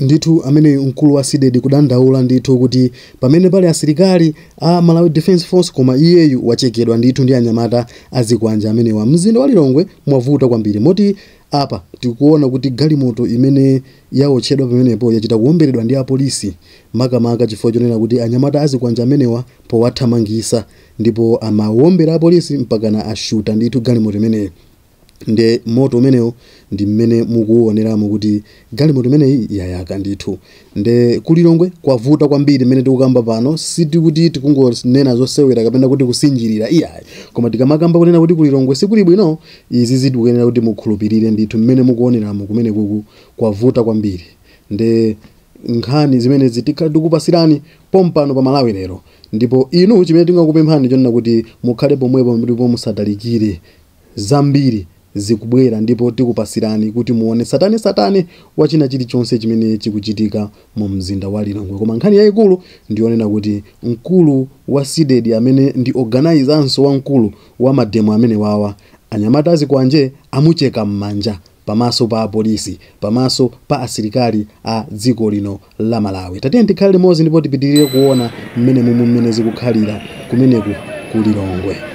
Ndithu ameneyu mkulu wa Cdedi kudandaula ndithu kuti pamene pali asilikali a Malawi Defence Force koma iyeyu wachekedwa ndithu ndi anyamata azikwanje amenewa. Mzinda wa Lilongwe mwavuta kwambiri moti apa tikuona kuti galimoto imene yaotchedwa pamenepo yachita kuomberedwa ndi apolisi makamaka chifukwa chonena kuti anyamata azikwanje amenewa powathamangisa ndipo amaombera apolisi mpakana ashuta ndithu galimoto imeneyo. nde moto umenewo ndi mmene mukuuoneramu kuti galimoto imeneyi yayaka ndithu nde ku lilongwe kwavuta kwambiri mmene tikukamba pano sikuti tikungonena zosewera kapena kuti kusinjirira iyayi koma tikamakamba kunena kuti ku lilongwe sikuli bwino izi zikuyenera kuti mukhulupirire ndithu mmene mukuoneramu kumene kuku kwavuta kwambiri nde nkhani zimenezi tikhala tikupasirani pompano pa malawi lero ndipo inu chimene tingakupemphani chonena kuti mukhale pomwepo ndipo musatalikire Zambiri zikubwera ndipo tikupasirani kuti muone satane satane wa china chili chonse chimene chikuchitika mu mzinda wa Lilongwe koma nkhani yaikulu ndi yonena kuti mkulu wa Cdedi amene ndi organizernso wamkulu wa mademo amenewawa anyamata azikwanje amucheka mmanja pamaso pa apolisi, pamaso pa asilikali a dziko lino la Malawi. Tatiyeni tikhale limodzi ndipo tipitirire kuona mmene mumwe mmene zikukhalira kumeneku ku Lilongwe.